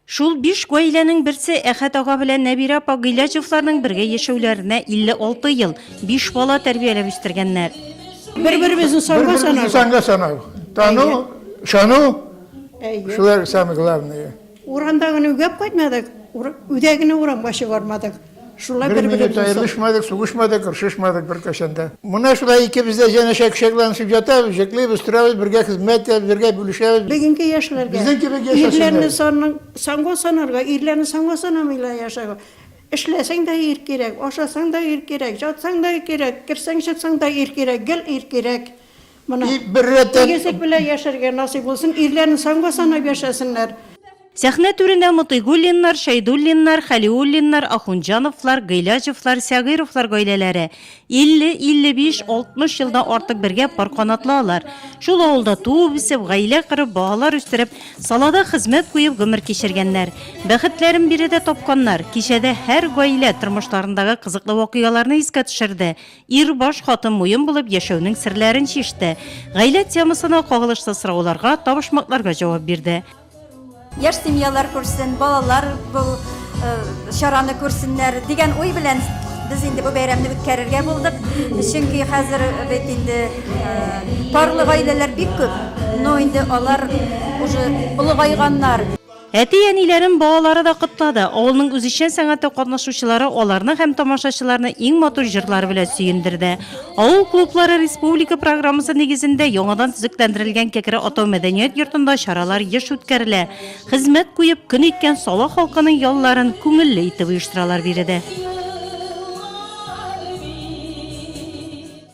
Шул биш гаиләнең берсе Әхәт ага белән Нәбирә апа Гыйләҗевларның бергә яшәүләренә 56 ел, биш бала тәрбияләп үстергәннәр. Бер-беребезне санга санау. Санга санау. Тану, ышану. Шулар самый главное. Урамда гына үгәп кайтмадык, үдә генә урамга чыгармадык. Шулай бер минут аерылышмадык, сугышмадык, оршышмадык бер кашанда. Менә шулай икебез дә җәнәшә кочакланышып ятабыз, җыклыйбыз, торабыз, бергә хезмәт итәбез, бергә бүлешәбез. Бүгенге яшьләргә безнең кебек яшәсеннәр. Ирләрне санның, санга санарга, ирләрне санга санамыйлар яшәгә. Эшләсәң дә ир кирәк, ашасаң да ир кирәк, ятсаң да ир кирәк, керсәң, чыксаң да ир кирәк, гел ир кирәк. Моны и бер рәттән Тигезлек белән яшәргә насыйп булсын, ирләрен санга санап яшәсеннәр. Сәхнә түренә Мотыйгуллиннар, Шәйдуллиннар, Хәлиуллиннар, Ахунҗановлар, Гыйләҗевлар, Сәгыйровлар гаиләләре 50, 55, 60 елдан артык бергә пар канатлы алар. Шул авылда туып-үсеп, гаилә корып, балалар үстереп, салада хезмәт куеп гомер кичергәннәр. Бәхетләрен биредә тапканнар. Кичәдә һәр гаилә тормышларындагы кызыклы вакыйгаларны искә төшерде, Ир баш хатын муен булып яшәүнең серләрен чиште. Гаилә темасына кагылышлы сорауларга, табышмакларга җавап бирде. Яшь семьялар күрсен, балалар бу чараны күрсеннәр дигән уй белән без инде бу бәйрәмне үткәрергә булдык. Чөнки хәзер бит инде парлы гаиләләр бик күп, но инде алар уже олыгайганнар. Әти-әниләрен балалары да котлады. Авылның үзешчән сәнгате катнашучылары аларны һәм тамашачыларны иң матур җырлары белән сөендерде. Авыл клублары республика программасы нигезендә яңадан төзекләндерелгән Кәкре Атау мәдәният йортында чаралар еш үткәрелә. Хезмәт куеп, көн иткән Сала халкының ялларын күңелле итеп оештыралар биредә.